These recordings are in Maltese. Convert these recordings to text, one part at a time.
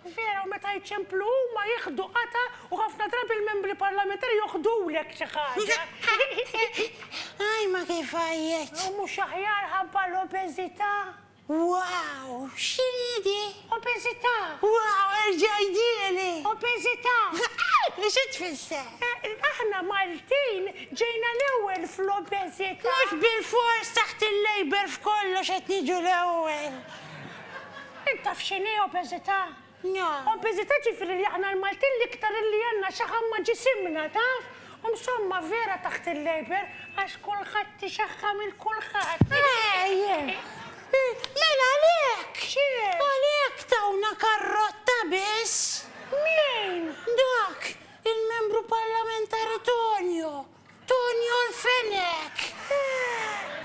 Veru, meta jċemplu huma jiħdu qatgħa u ħafna drabi l-membri parlamentari joħdulek xi ħaġa. Għaj ma kif għajjet! U mhux aħjar ħabba l-obeżità? Wow! X'inhi di? Obeżità! Wow, erġa' għidhieli! Obeżità! U xi tfisser? Aħna Maltin ġejna l-ewwel fl-obeżità! Mhux bilfors taħt il-Labour f'kollox qed niġu l-ewwel! Int taf x'inhi obeżità? No. Obeżità ġifieri li aħna l-Maltin l-iktar illi għandna xaħam ma' ġisimna, taf? U msomma vera taħt il-Labour għax kulħadd ixaħħam 'il kulħadd. Ejjeh! Mela għalhekk! X'inhi? Għalhekk tawna karrotta biss! Min? Dak, il-Membru Parlamentari Tonio. Tonio l-Fenech!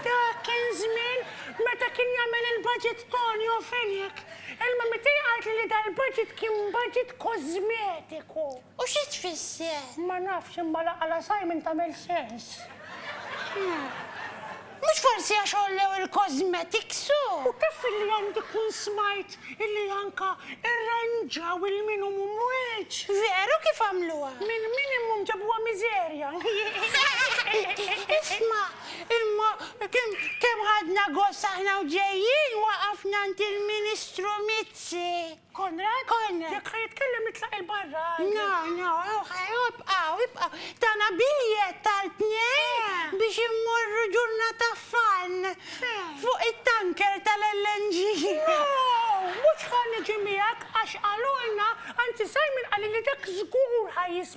Dak kien żmien meta kien jagħmel il-budget Tonio Fenech. Il-mami tiegħi qaltli li dal-budget kien budget kożmetiku. U xi tfisser? Ma nafx, imma l-għaqal għal Simon tagħmel sens. Mhux forsi għax għollew il-cosmetics u. U kif illi għandi kun smajt illi anka irranġaw il-minimum wage. Veru kif għamluha? Minn minimum ġabuha miżerja. Isma', imma kemm ħadna gost aħna u ġejjin waqafna għand il-Ministru Mizzi. Konrad? Konrad! Jekk ħa jitkellem nitlaq 'il barra! No, no, ibqgħu, ibqgħu. Tana biljett għal tnejn biex immorru ġurnata f'Faln. Fejn? Fuq it-tanker tal-LNG. Wow! Mhux ħa niġi miegħek għax qalulna, anzi Simon qalli li dak żgur ħa jiswa.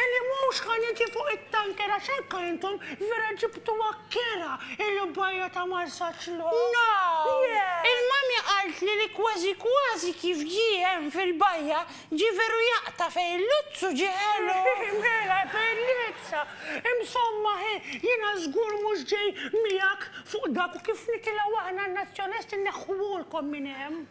Illi mhux ħa niġi fuq it-tanker għax anke intom vera ġibtuha kerha il-bajja ta' Marsaxlokk. No! Il-Mummy qaltli li kważi kważi kif ġie hemm fil-bajja, ġie veru jaqta' fejn il-luzzu ġie ħelu. Mela, bellezza! Insomma, hi, jiena żgur mhux ġej miegħek fuq dak u kif nitilgħu aħna n-Nazzjonalisti nneħħuhulkom minn hemm.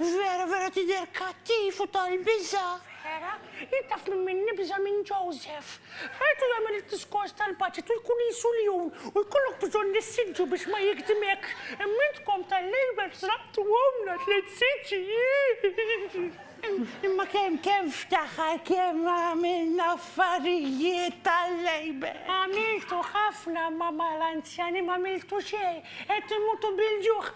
Vera, vera tidher kattiv u tal-biża'! Vera, jien taf minn min nibża' minn Joseph. Rajtu jagħmel id-diskors tal-budget u jkun qisu ljun u jkollok bżonn l-issiġġu biex ma jigdimekx, imma intkom tal-Labour sraqtuhomlna tliet siġġi, iih! Imma kemm, kemm ftaħar, kemm għamilna affarijiet tal-Labour! Għamiltu ħafna, imma mal-anzjani m'għamiltu xejn, qed imutu bil-ġuħ,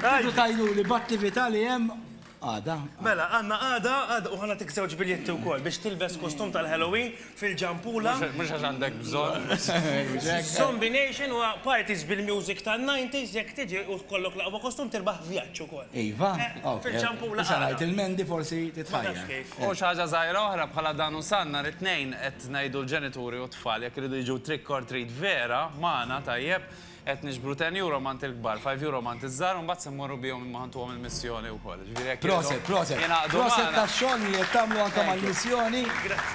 Tridu tgħiduli b'attività li hemm għada. Mela, għandna għada, għada, u ħa nagħtik żewġ biljetti wkoll biex tilbes kostum tal-Halloween fil-Ġampula. Mhux għax għandek bżonn. Zombie Nation huwa parties bil-music tan-90s, jekk tiġi u tkollok l-aqwa kostum tirbaħ vjaġġ ukoll. Iva? Fil-Ġampula. Issa ngħid il-Mendi forsi titħajjar. U xi ħaġa żgħira oħra bħala dan u san, nhar it-Tnejn qed ngħidu l-ġenituri u t-tfal jekk iridu jiġu trick or treat vera magħna, tajjeb, Qed niġbru ten euro m'għand il-kbar, five euro m'għand iż-żgħar u mbagħad se mmorru bihom imma ħa ntuhom il-missjoni wkoll. Ġifieri jekk jridhom jingħaqdu magħna. Proset, proset. Proset tax-xogħol li qed tagħmlu anke mal-missjoni. Grazzi.